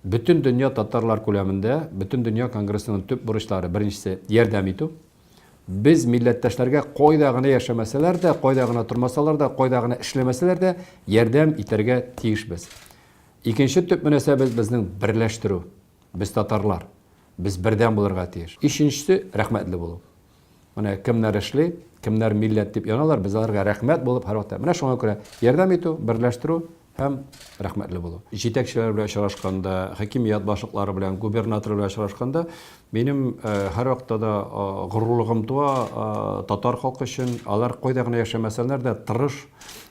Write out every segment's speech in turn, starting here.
Бөтендөнья татарлар күләмендә Бөтендөнья конгрессының төп бурычлары, беренчесе, ярдәм итү. Без милләттәшләргә кайда гына яшәмәсәләр дә, кайда гына тормасалар да, кайда гына эшләмәсәләр дә, ярдәм итәргә тиешбез. Икенче төп мөнәсәбәт безнең берләштерү. Без татарлар. Без бердәм булырга тиеш. Өченчесе, рәхмәтле булу. Менә кемнәр эшли, кемнәр милләт дип яналар, без аларга рәхмәт булып һәрвакыт. Менә шуңа күрә ярдәм итү, берләштерү һәм рәхмәтле булу. Җитәкчеләр белән очрашканда, хакимият башлыклары белән, губернатор белән очрашканда, минем һәрвакытта да горурлыгым туа татар халкы өчен. Алар кайда гына яшәмәсәләр дә тырыш,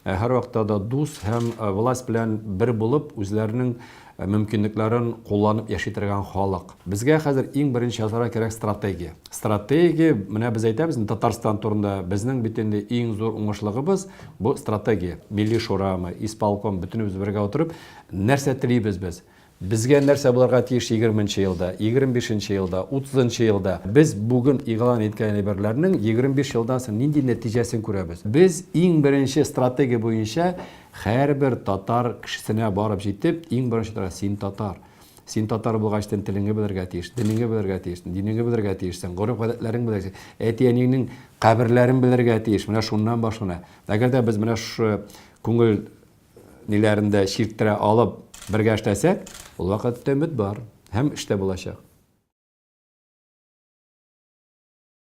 һәрвакытта да дус һәм власть белән бер булып, үзләренең мөмкинлекләрен кулланып яши торган халык. Безгә хәзер иң беренче ясарга кирәк стратегия. Стратегия, менә без әйтәбез, Татарстан турында безнең бит инде иң зур уңышлыгыбыз, бу стратегия. Милли шурамы, исполком, бөтенебез бергә утырып, нәрсә телибез без? Безгә нәрсә булырга тиеш егерме нче елда, егерме бишенче елда, утызынчы елда? Без бүген игълан иткән әйберләрнең егерме биш елдан соң нинди нәтиҗәсен күрәбез? Без иң беренче стратегия буенча Хәрбер татар кешесенә барып җитеп, иң беренче тора, син татар. Син татар булгач тен телеңе белергә тиеш, денеңе белергә тиеш, динеңе белергә тиешсең, гореф гадәтләрең белергә тиеш, әти әниеңнең каберләрен белергә тиеш, менә шуннан башлана. Әгәр дә без менә шушы күңел ниләрен дә чирттерә алып бергә эшләсәк, ул вакытта өмет бар һәм эш тә булачак.